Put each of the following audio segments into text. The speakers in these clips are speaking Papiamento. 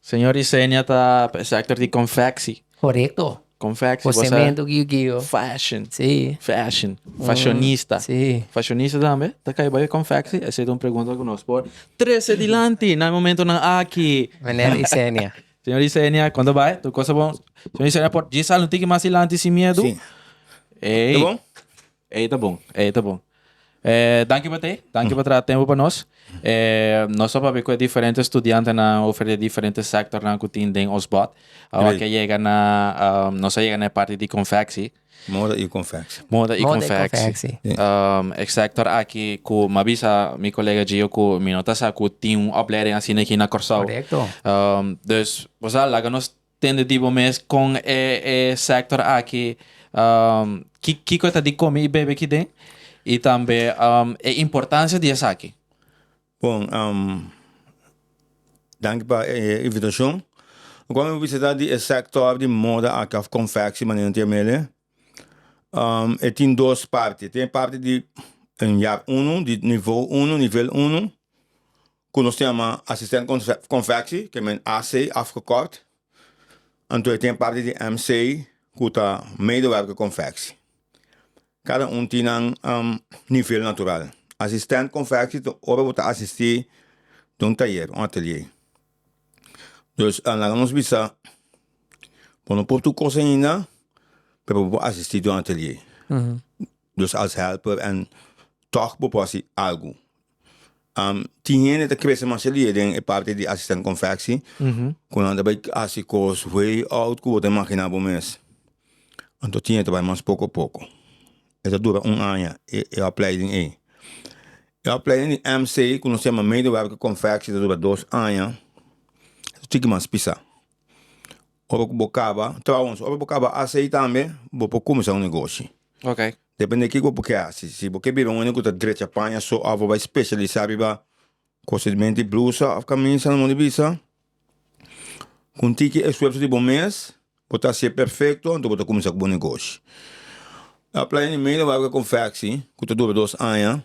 Señor Yesenia ta e sector di confectie. Corecto. Confectie bosa. Cosemento guio guio. Fashion. Si. Fashion. Fashionista. Si. Fashionista tambe ta cay bay confectie? Esa ta un pregunta cu nos por trece dilanti na e momento nan aki. Meneer Yesenia. Señor Yesenia con ta bay? Tur cosa bon. Señor Yesenia por djis al un tiki mas dilanti sin miedo. Si. Ey. Ta bon? Ey ta bon, ey ta bon. Eh, danki pa t'ey, danki pa traha tempo pa nos. Eh, nos ta papia cu e diferente studiantenan over di e diferente sectornan cu tin den ons bot. Awor ke yega na, ehm, nos a yega na e parti di confectie. Moda y confectie. Moda y Moda y confectie. confectie. Ehm, e sector aki cu m'a bisa mi colega Gio cu mi no ta sa cu tin un oplering asina aki na Corsou. Correcto. Ehm, dus, bosa laga nos. tende di bo mes con e e sector aki um ki kico e ta di come y bebe kiden y tambe um e importancia di esaki. Bon, um danki pa e invitacion. Lo cual mi a visita di e sector di moda aki of confectie manera nan tin amele um e tin dos parti, e tin e parti di un jaar uno di nivo uno, nivel uno, ku nos tin yama asistent konfeksi ke men AC afgekort anto e tin e parti di MC ku ta medewerker konfeksi kada un tin nan nivel natural asistent konfeksi ta ora bo ta asisti den un tayer un atelié dus a laga nos bisa bo no por tur kos ainda pero bo por asisti den un atelié dus as hèlper en tog bo por hasi algu. tin hende ta kere masiado di e den e parti di asisten konfeksi ku nan ta bai hasi kos way out ku bo ta imaginá bo mes anto tin hende ta bai mas poko poko e ta dura un aña e opleiding ei e opleiding di mc ku nos ta yama medewerker konfeksi ta dura dos aña tiki mas pisá Ora cu bo caba, trouwens, ora bo caba haci ey tambe, bo por cuminsa un negoshi. Ok. Depende di kico bo kier haci. Si bo kier bira un hende cu ta drecha paña so of bo bay specialisa riba cosa di menti blusa of camisa, amo di bisa, cu un tiki esfuerso di bo mes, bo ta haci'e perfecto, anto bo ta cuminsa cu bo negoshi. Playa di Mela, bo haga confectie, cu ta dura dos aña.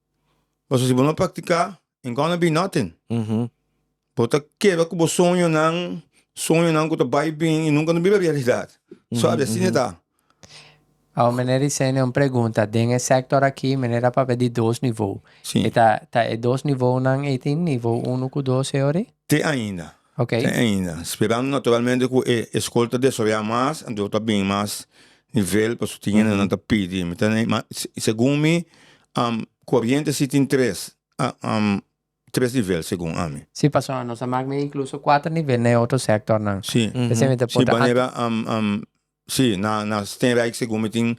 Paso si bo no a practica, ain't gonna be nothing. Bo ta keba cu bo soñonan, soñonan cu ta bay bin y nunca no bira realidad. Sorry, asina e ta. Awo meneer Ricenia un pregunta, den e sector aki meneer a papia di dos niveau, Si. e ta ta e dos nivonan eitin, niveau uno cu dos e ori? Te ainda, Ok. Te ainda, speran naturalmente cu e escol ta desaroya mas, anto ta bini mas nivel pasobra tin hende nan ta pidi. Mi ta na ima, segun mi, coriente si tin tres, tres nivel segun ami. Si, pasobra nos a mak mi incluso cuater nivel na e otro sectornan. Si, si manera Sí, na na Steenrijk segun mi tin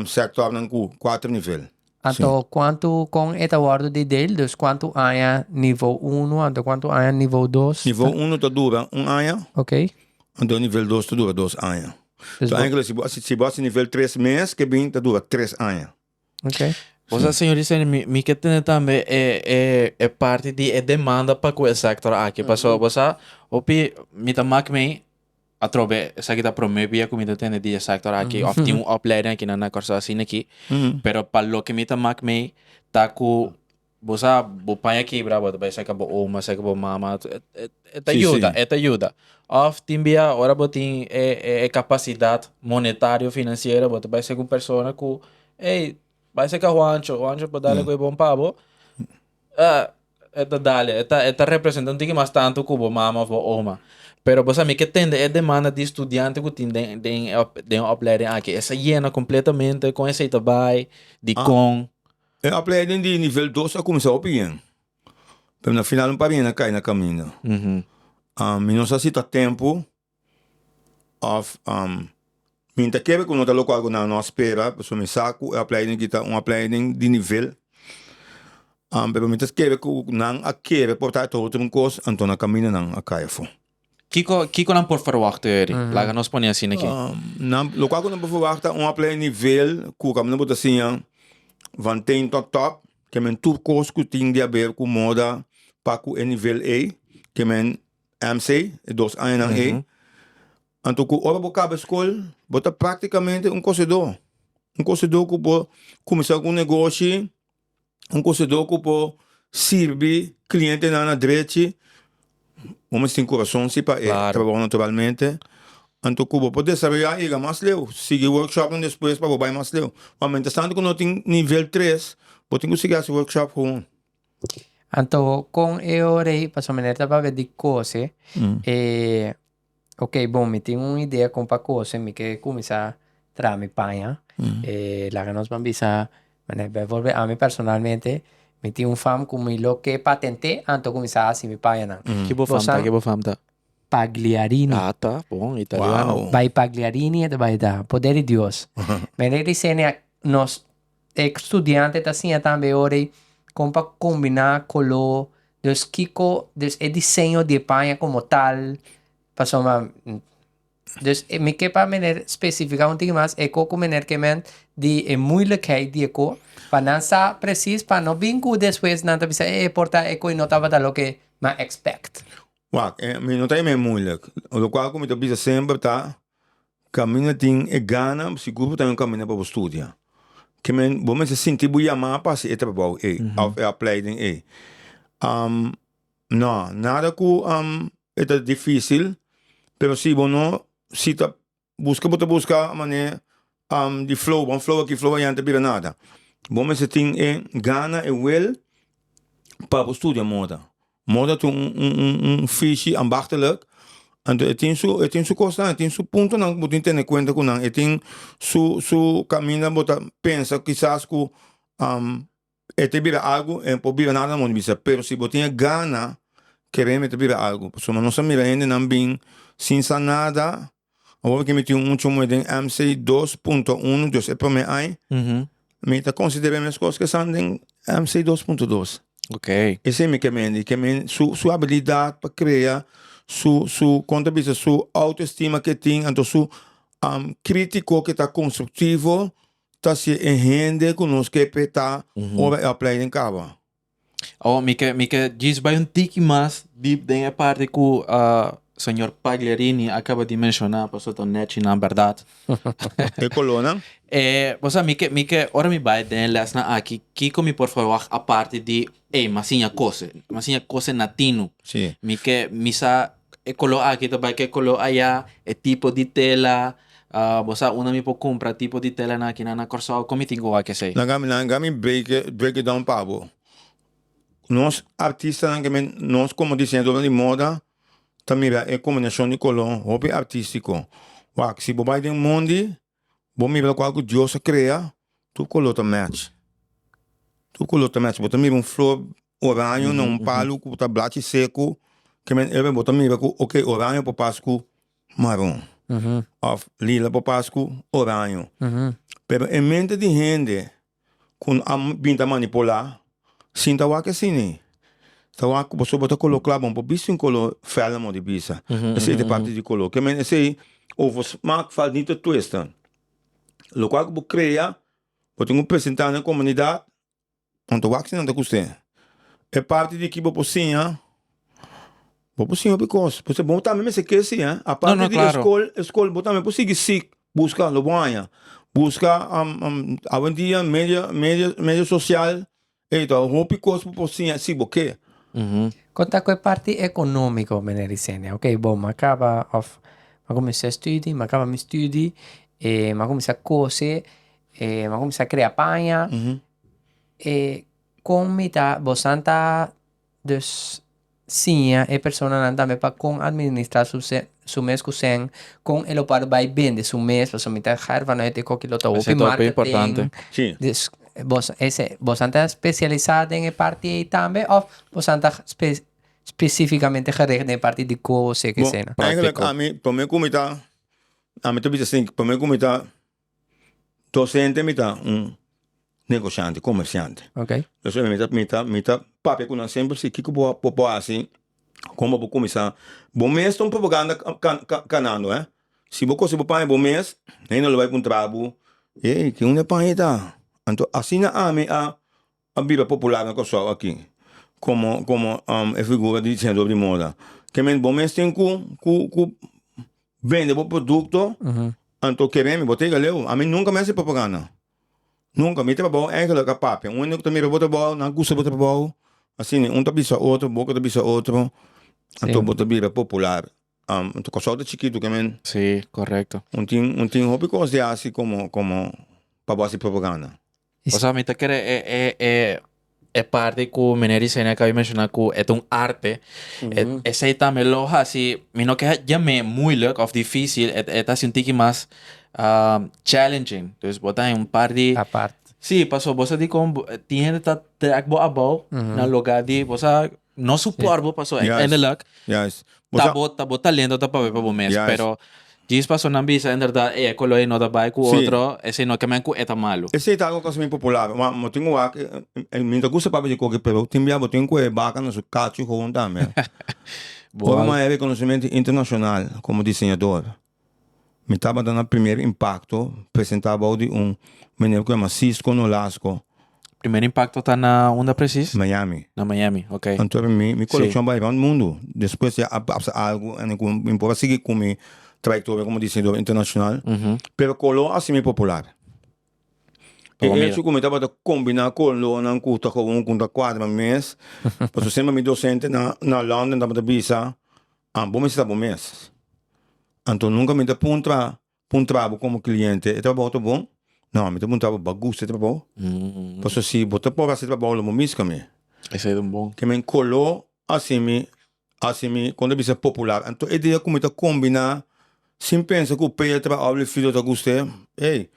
sectornan cu cuatro nivel. Anto sí. cuanto con e ta wordo di deel? Dus cuanto aña nivo uno, anto cuanto aña nivo dos? Nivo ta... uno ta dura un aña. Ok. Anto nivel dos ta dura dos aña. Dus so bo... eigenlijk si bo si bo nivel tres mes ke bin ta dura tres aña. Okay. Bo sa señor y señor, mi, mi que tiene también eh, eh, eh, parte di eh, demanda pa cu el sector aquí. Paso, mm -hmm. bo sa, hopi, mi ta mak me a trobe, sa kita prome via cu mi ta tiene di eh sector aquí, mm -hmm. of tin un opleiding aquí na Nacorsa, asina aquí. Mm -hmm. Pero pa lo que mi ta mak me, ta cu... Bo sa bo paña kebra bo ta bai saka bo oma saka bo mama e ta yuda e ta yuda of tin bia ora bo tin e e capacidad monetario financiero bo ta bai saka un persona cu ey bai saka juancho juancho por dale cu e bon pa bo e ta dale e ta e ta representa un tiki mas tanto cu bo mama of bo oma pero bo sa mi ke tende e demanda di studiante cu tin den den den opleiding aki esa yena completamente con esey ta bai dikon. E opleiding di nivel dos a kuminsá hopi bien, pero na final un par hende a kai na kaminda. mi no sa si ta tempu òf mi ta kere ku no ta loke algu na nos spera, pasobra mi sa ku e opleiding aki ta un opleiding di nivel, pero mi ta kere ku nan a kere porta e trote un kos, anto na kaminda nan a kai afó. Kiko kiko nan por verwachta hoy eri? Laga nos pone asina aki. Um, nan, lo cual cu nan por verwachta un apple nivel cu kami nan por ta siña van teen tot top, ke men tur cos cu tin di haber cu moda pa cu e nivel ey, ke men MC, e dos añanan ey. Anto cu ora bo caba escol, bo ta practicamente un cosedor. Un cosedor cu bo cuminsa cu un negoshi, un konsedó ku por sirbi klientenan na drechi, bo mester tin kurason si pa e trabou naturalmente. Anto ku bo por desaroyá yega mas leu, sigui workshopnan despues pa bo bai mas leu. Ma mientras tanto ku no tin nivel tres, bo tin ku sigui hasi workshop hon. Anto kon e ora ei, pasobra mi ta papia di kose e Ok bon mi tin un idea con pa cose mi ke cuminsa traha mi paña laga nos ban bisa manera bijvoorbeeld ami personalmente mi tin un fam cu mi lo ke patente antes cu cuminsa haci mi paña nan. Ki bo fam ta ki bo fam ta? Pagliarini. Ah ta bon italiano. Wao. Bay Pagliarini e ta bay ta poder di Dios. Manera i di Xenia nos E studiante ta siña tambe ora ei kon pa kombiná koló, dus kiko, dus e diseño di e paña komo tal, pasobra dus mi ke pa meneer spesifiká un tiki mas e ko ku meneer Kement di e muilikheid di e ko pa nan sa presis pa no bin ku despues nan ta bisa e e por ta e ko i no tabata loke mi a expect. Wak, mi no ta yama e muilik, lokual ku mi ta bisa semper ta. Caminda tin e gana sigur bo ta yon caminda pa bo studia ke men bo mester sinti bo yama pa haci e trabou ey of e opleiding ey am no nada cu am e ta dificil pero si bo no si ta busca bo ta busca mane am di flow wan flow aki flow ayan ta bira nada bo mester tin e gana e wil pa bo studia moda. Moda tin un fishi ambachtelijk anto e tin su e tin su kosnan e tin su puntonan ku bo tin tene kuenta ku nan e tin su su kaminda bo ta pensa kisas ku e te bira algu e por bira nada moda bisa pero si bo tin e gana kere mi ta bira algu pasobra nos a mira hendenan bin sin sa nada. Awor ke mi tin un chomue den MC dos punto uno, dus e prome ai, mi ta konsider'é mi eskos ke san den MC dos punto dos. Okay. Esei mi kemendi, ke men su su habilidat pa krea, su su kon ta bisa su autoestima ke tin, anto su kritiko ke ta konstruktivo ta hasié e hende ku nos ke petá ora e aplai den kaba. Awa mi ke mi ke djis bai un tiki mas dip den e parti ku señor Pagliarini a kaba di menshona pasobra ta nèchi nan bèrdat. E kolónan? E pasobra mi ke mi ke ora mi bai den e lèsnan aki kiko mi por ferwagt aparte di ey m'a siña kos, m'a siña kos en natino. Si. Mi ke mi sa e color aki ta bay cu e color aya e tipo di tela bo sa unda mi por cumpra tipo di tela nan aki nan na Corsou con mi tin cu wak esey. Nan gami nan gami break it down pa bo nos artista nan kimen nos como diseñador nan di moda ta mira e combinacion di color hopi artistico wak si bo bay den mundi Bo mira lokual ku Dios a krea tur koló ta mèch, tur koló ta mèch, bo ta mira un flor oraño na un palu ku ta blachi seku ke men ere bo ta mira ku ok oraño por pas ku maron òf lila por pas ku oraño pero e mente di hende kun a bin ta manipulá sin ta wak esini ta wak ku pasobra bo ta kolo kla bo bisti un kolo fèl amor di bisa esei ta papia di kolo kiamen esei ofo smak fal nita twista lo kual ku bo krea bo tin ku presentá na e komunidat nan ta wak sinanta kust'e e parti di kiba por siña bo por siña hopi kos bo tambe mester ke si a parti di e skol e skol bo tambe por sigui sig. Buska lo bon haña buska awendia media media media social ey ta hopi cos bo por siña si bo ke. Con ta cu e parti economico meneer Yesenia? Ok bo m'a caba of m'a cuminsa studi m'a caba mi studi e m'a cuminsa cose e m'a cuminsa crea paña e con mi ta bo san ta Dus siña e personanan tambe pa kon administrá su se, su mes ku sèn, kon e lo por bai bende su mes, pasobra mi ta herba no e te koki lo ta hopi marketing. Sí. Dus bos ese, bosan ta spesialisá den e parti ei tambe òf bosan ta spe, spesífikamente gericht den e parti di koos e ke esei nan? Bo, eigenlik ami, promé ku mi ta, ami ta bisa asin, promé ku mi ta Docente mi ta un negociante, comerciante, mi ta mi ta papia cu nan semper si kico bo bo hasi como bo cuminsa, bo mes ta un propaganda canando eh si bo cosi bo paña bo mes hende lo bay puntra bo ey kico nan e paña ita anto asina ami a. A Biblia popular na Kòrsou aki komo komo e figura di diseñador di moda. Ke men bo mes tin ku ku ku bende bo produkto anto ke remi bo ta yega leu. Ami nunka mi a hasi propaganda, nunka. Mi ta babou èinkele ka papia. Un hende ku ta mira bo ta babou, nan gusta bo ta babou. Asina un ta bisa otro, bo ke ta bisa otro, anto bo ta bira popular. Kòrsou ta chikitu ke men. Si, korekto. Un tin un tin hopi kos di hasi komo komo pa bo hasi propaganda. Pasobra mi ta kere e parti ku Miner Yesenia akaba di menshona ku e ta un arte, esei tambe lo hasi, mi no ke haña me muilik òf difísil, e ta hasi un tiki mas challenging. Dus bo ta haña un par di, si, pasobra bo sa dikon tin hende ta trèk bo abou na lugá di, bo sa No suport bo paso eindelijk ta bo ta bo talento ta papia pa bo mes pero djis personan bisa inderdat ey e colo ey no ta bay cu otro esey no kemen cu e ta malo. Esey ta un cosa mi popular ma mi tin wak mi ta gusta papia di coke pero tin bia bo tin cu e baca na su cacho gewoon tambe ora mi a reconocemente internacional como diseñador. Mi tabata na Primer Impacto, presentá bou di un meneer ku yama Cisco Nolasco. Primer Impacto ta na unda presis? Miami. Na Miami, ok. Anto mi mi Sí. kolekshon bai rònt mundu. Despues ya a papsa algu ene ku mi por a sigui ku mi trayektoria komo diseñador internashonal, pero koló a simi popular. E Pabomira. echo ku mi tabata kombiná kolónan ku ta kowon ku ta kuadra mes, pasobra semper mi dosente na na London tabata bisa. An bo mester ta bo mes. Anto nunka mi ta puntra puntra bo komo kliente e trabou ta bon? No, mi ta puntra bo bo a gusta e trabou? Paso si bo ta por hasi e trabou lo bo miska mi. Esei ta bon. Ke men kolo hasi mi hasi mi kon ta bisa popular. Anto e dia ku mi ta kombiná sin pensa ku Peter Ablefrido ta gusta e, ey.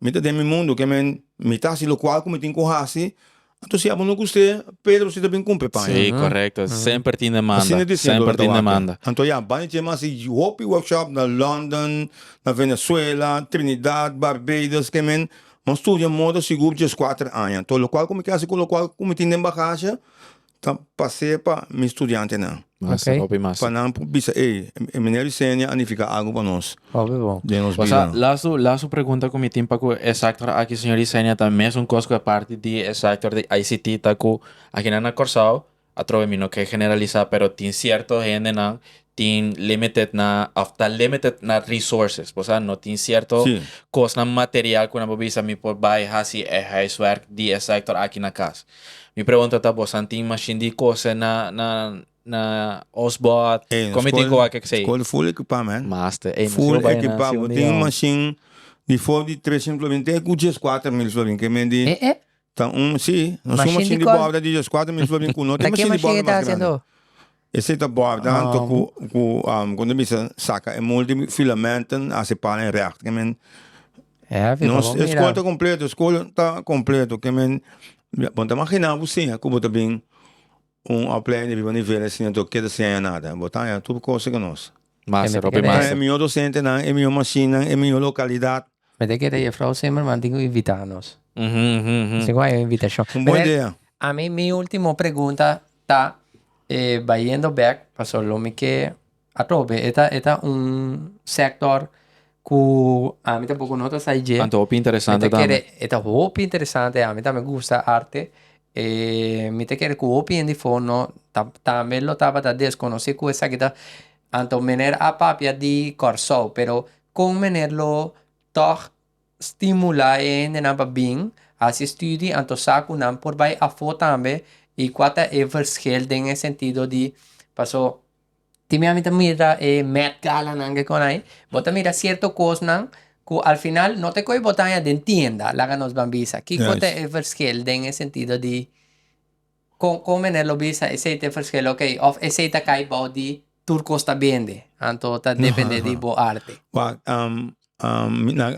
Mi ta den mi mundu, ke men mi ta hasi lokual ku mi tin ku hasi, anto si abo no guste, Pedro si ta bin kumpri paña. Sí, korekto. Semper tin demanda. Asina di siñor Loreto Wakke. Anto ya, banda dje mi a hasi hopi workshop na London, na Venezuela, Trinidad, Barbados, ke men mon studia moda sigur djes kuater aña. Anto lokual ku mi ta hasi ku lokual ku mi tin den bagasha. Ta pasea pa mi studiantenan. Mas, Oké. hopi mas. Pa nan por bisa, ey, e meneer Yesenia a nifica algo pa nos Hopi bon. den nos Wasa, bidanan. laatste, laatste pregunta cu mi tin pa cu e sector aki, señor Yesenia, ta mes un cos cu a parti di e sector di ICT ta cu aginan na Corsao, atrobe mi no ke generalisa, pero tin cierto hendenan tin limited na of ta limited na resources por sa no tin cierto Sí. cosnan material cu nan por bisa mi por bay hasi e huiswerk di e sector aki na cas mi pregunta ta bosan tin machine di cose na na na osbord Ey, nos comiti school- coa kek sei school full equipá, man. master ey Full equipá. Bo tin machine di for di tres mil florins, tin e cu djescuater mil florins, ke men di Eh, eh. Ta un, sí, nos un mashin di bòrda di Dios, kuater mil florina, ku no tin mashin di bòrda mas grandi. Esei ta bòrda anto ku, ku kunda e bisa, saka e mul di filamenten, hasi pal en rèkta, ke men, nos e skol ta kompleto, e skol ta kompleto, ke men, bon ta imaginá ku siña ku bo ta bin Un opleiding di biba nivel a siña anto keda sin haña nada. Bo ta haña tur cosa ku nos. Mester hopi Bo ta haña mester. e mihó dosentenan, e mihó mashinnan, e mihó lokalidad. Mi ta kere Jefrouw Zimmerman tin ku invitá nos. Esei ku haña un invitashon. Un bon idea. Ami mi último pregunta ta, e bayendo bèk, paso lo mi ke Atrobe e ta e ta un sector cu ami tampoco no ta sai dje. Anto hopi interesante tambe. Mi ta kere e ta hopi interesante ami ta mi gusta arte e mi ta kere cu hopi hende fo no ta tambe lo tabata desconoci cu esaki ta anto meneer a papia di Corsou pero con meneer lo tog stimula e hende nan pa bin haci studie anto sa cu nan por bay afo tambe y cua ta e verschil den e sentido di paso. Tin bia mi ta mira e Met Gala nan ke kon ai, bo ta mira sierto kosnan ku al final no ta e ku bo ta haña den tienda, laga nos ban bisa kiko ta e verskil den e sentido di kon kon men e lo bisa esei ta e verskil, oke, òf esei ta kai bou di tur kos ta bende, anto ta depende di bo arte. Wak,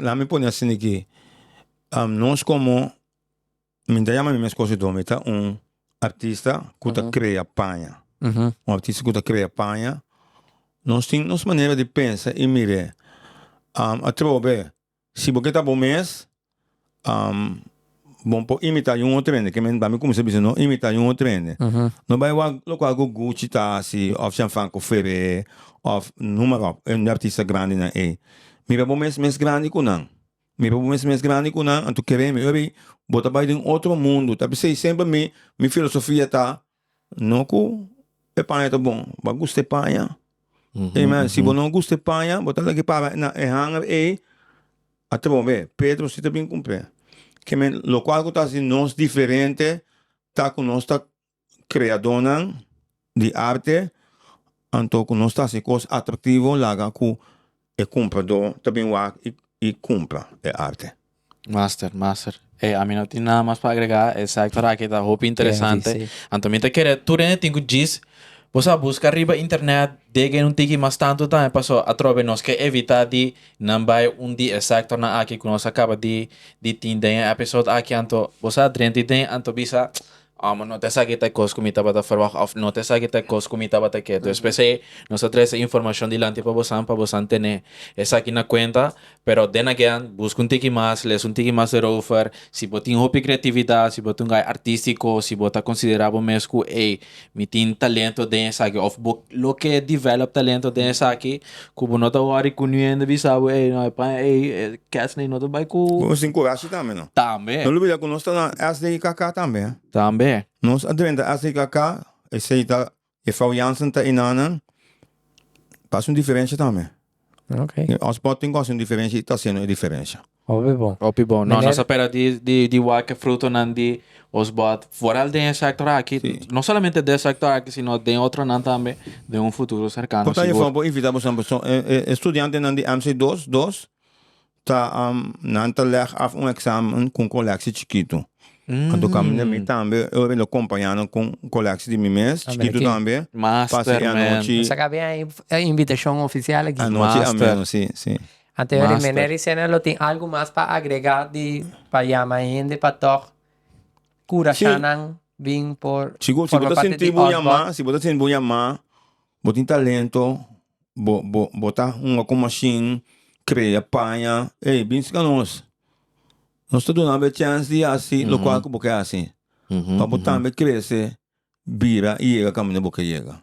laat mi pone asina aki, nos komo. Mi ta yama mi mes kosedó, mi ta un artista ku ta krea paña. Un artista ku ta krea paña. Nos tin nos manera di pensa i mir'é. Atrobe, si bo ke ta bo mes, bo por imitá un otro hende, ke men ba mi kuminsá bisa no imitá un otro hende. No bai wak lokual ku Gucci ta hasi òf Gianfranco Ferré òf, numa ròk, e artista grandinan ei. Mira bo mes mes grandi ku nan. Mi papu mes mes grandi ku nan anto kere mi oye bo ta bai den otro mundu ta bisei semper mi mi filosofia ta no ku e paña ta bon bo a gusta e paña amen si bo no gusta e paña bo ta leke para na e hanger ei a trobe be petro si ta bin kumple kimen lokual ku ta si nos diferente ta ku nos ta Kreadónan di arte, anto ku nos ta hasi kos atraktivo laga ku e kumpradó ta bin wak i kumpra e arte. Master, master. Ey, ami no tin nada mas pa agregá, e sector aki ta hopi interesante. Anto mi ta kere tur hende tin ku djis, bo sa buska riba internet, degen un tiki mas tantu tambe paso atrobe nos ke evitá di nan bai un di e sectornan aki ku nos a kaba di tin den e episode aki, anto bo sa drenti den, anto bisa Amo, no ta esaki ta e kos ku mi tabata ferwagt, òf no ta esaki ta e kos ku mi tabata ke. Entonces p'esei nos ta trese informashon dilanti pa bosan, pa bosan tene esaki na kuenta. Pero den again, buska un tiki mas, lesa un tiki mas erover. Si bo tin hopi kreatividat, si bo ta un gai artístiko, si bo ta konsiderá bo mes ku, ey, mi tin talento den esaki òf bo lo ke develop talento den esaki, Ku bo no ta wòri ku niun hende bisa bo, ey, no e paña ey, e kèst ey no ta bai ku. Bo sin kurashi tambe, no? Tambe. No lubida ku nos ta na SDIKK tambe, eh? Tambe. Nos a drenta SDIKK, esei ta e Frou Jansen ta enanan, ta hasi un diferensha tambe. Oké. Osborn tin ku hasi un diferensha i ta hasiendo e diferensha. Hopi bon. Hopi bon. No, nos a pera di, di, di wak e frutonan di os bòt foral den e sector aki. Sí. No solamente den e sector aki, sino den otronan tambe, den un futuro cercano, sigur. Por ta e for bo invita boso nan persoon, e, e, e estudiantenan di MC dos, dos, ta, um, nan ta leg af un examen cu un colectie chikito. Anto caminda mi tambe, e hopi lo companya nan cu un colectie di mi mes, chikito tambe. Master, man. Pasa e anochi. Sa cabe ahí, e invitacion oficial aki. Anochi a Master. menos, sí, sí. Ante Master. Rimene Ricena lo tin algu mas pa agrega di pa yama e hende pa tòg kura Sí. shannan bin por Si bo, si bo forma ta parte sentí di bo Osborn. yamá, si bo ta sentí bo yamá, bo tin talento, bo, bo, bo ta hunga ku mashin, krea, paña, ey, bins ka nos. Nos ta duna bo e chèns di hasi lokual ku bo ke hasi, pa bo tambe krese, bira i yega kaminda bo ke yega.